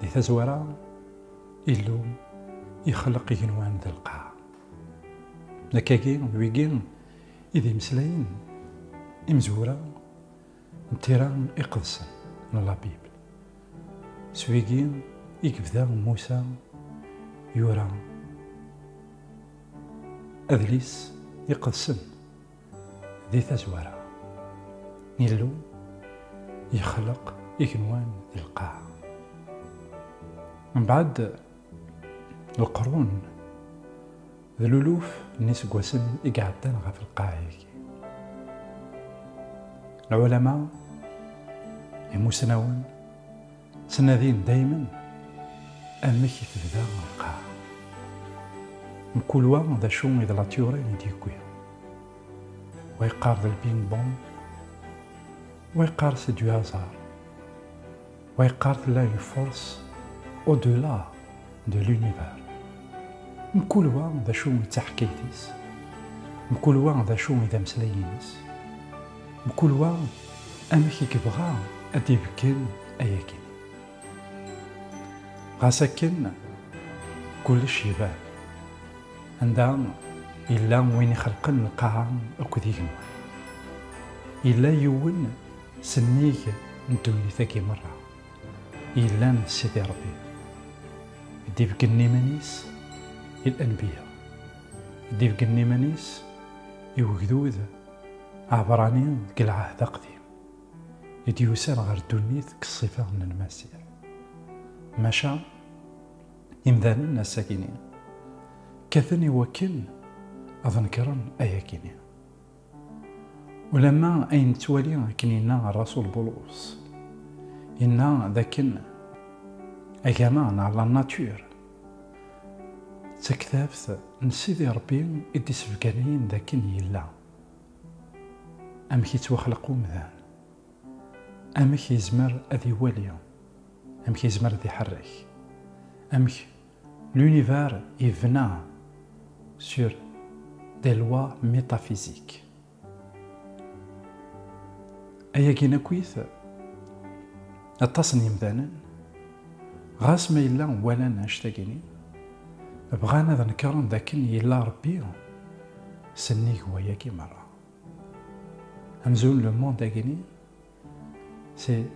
Di tazwara, Illu ixleq igenwan d lqaɛ. Nekkagi d wigi i d imeslayen imezwura n tira iqedsen n La Bible. S wigi i yebda Musa yura adlis iqedsen. Di tazwara, Illu yexleq igenwan d lqaɛa. Mbeɛd lqrun d luluf n iseggasen i iɛeddan ɣef lqaɛa-agi, lɛulama imusnawen, Ttnadin daymen amek i tebda lqaɛa. Mkul wa d acu i d latyurin i d-yewwi. Wa yeqqar d lping bong, wa yeqqar c'est du hasard, wa yeqqar tella une force au delà de l'univers. Mkul wa d acu i d taḥkayt-is, mkul wa d acu i d ameslay-ines. Mkul wa amek i yebɣa ad d-ibeggen ayagi. Ɣas akken, kullec iban. Anda yella win ixelqen lqaɛa akked igenwan. Yella yiwen s nnig n ddunit-agi merra, yellan d Sidi Rebbi, i d-ibeggen iman-is i Lenbiya, i d-ibeggen iman-is i wegdud, Aɛebrani deg lɛahd aqdim i d-yusan ɣer ddunit deg ṣṣifa n Lmasiḥ. Maca imdanen ass-agi-nni kkaten i wakken ad nekren ayagi-nni. Ulamma ay nettwali akken yenna rrasul Bulus, yenna d akken agama neɣ la nature D taktabt n Sidi Ṛebbi i d-isebganayen d akken yella, amek i ttwaxleq umdan, amek yezmer ad iwali, amek yezmer ad iḥerrek, amek l'univers ibna sur des lois métaphysiques. Ayagi akkit, aṭas n yimdanen, ɣas ma yella walan annect-agi-nni, bɣan ad nekren d akken yella Rebbi sennig wayagi merra. Amzun le monde agi-nni, c'est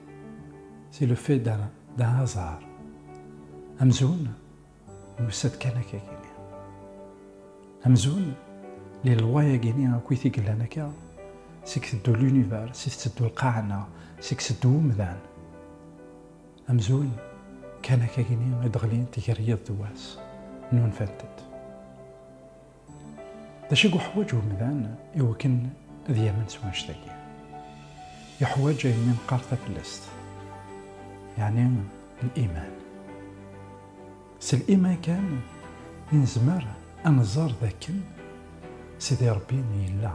le fait d'un hasard. Amzun, Nusa-d kan akka gini. Amzun, li loi agini akk it i yellan akka, seg teddu l'univers, seg tetteddu lqaɛa-nneɣ, seg teddu umdan. Amzun, kan akka gini i d-ɣlint gar yiḍ d wass, nunfant-d. D acu i yuḥwaǧ umdan i wakken ad yamen s wanect-agi? Yuḥwaǧ ayen mi neqqar taflest, yeɛni liman. S liman kan i nezmer ad nẓer d akken Sidi Ṛebbi yella,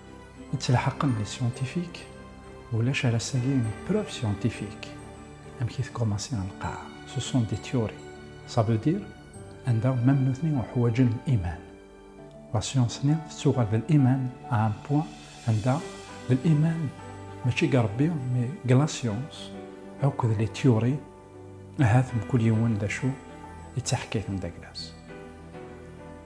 Yettelḥaqen les scientifiques ulac ara sagi une preuve scientifique amek i tkumansi lqaɛa ce sont des théories ça veut dire anda même nutni uḥwaǧen iman la science-nni tettuɣal d liman à un point anda d liman mačči deg Rebbi mais deg la science akk d les théories ahat mkul yiwen d acu yettaḥkay temdagla-s.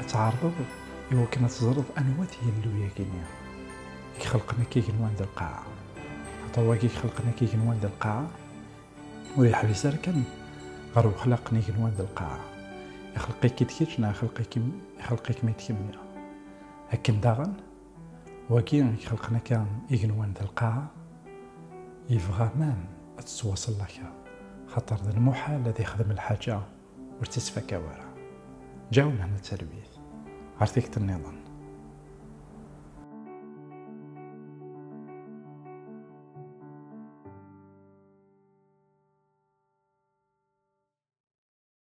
ad tɛerḍeḍ iwakken ad teẓreḍ anwa tigellu-yagi-nni i ixelqen akka igenwan d lqaɛa. Axaṭer wagi i ixelqen akka igenwan d lqaɛa ur yeḥbis ara kan ɣer wexlaq n igenwan d lqaɛa. Ixelq-ik-id kečč neɣ ixelq-ikem ixelq-ikem-id kemmi. Akken daɣen, wagi i ixelqen akka igenwan d lqaɛa yebɣa mam ad tettwaṣellakeḍ, xaṭer d lmuḥal ad ixdem lḥaǧa ur tt-ittfaka wara. Ǧaw mehna talwit, ɣer tikti nniḍen.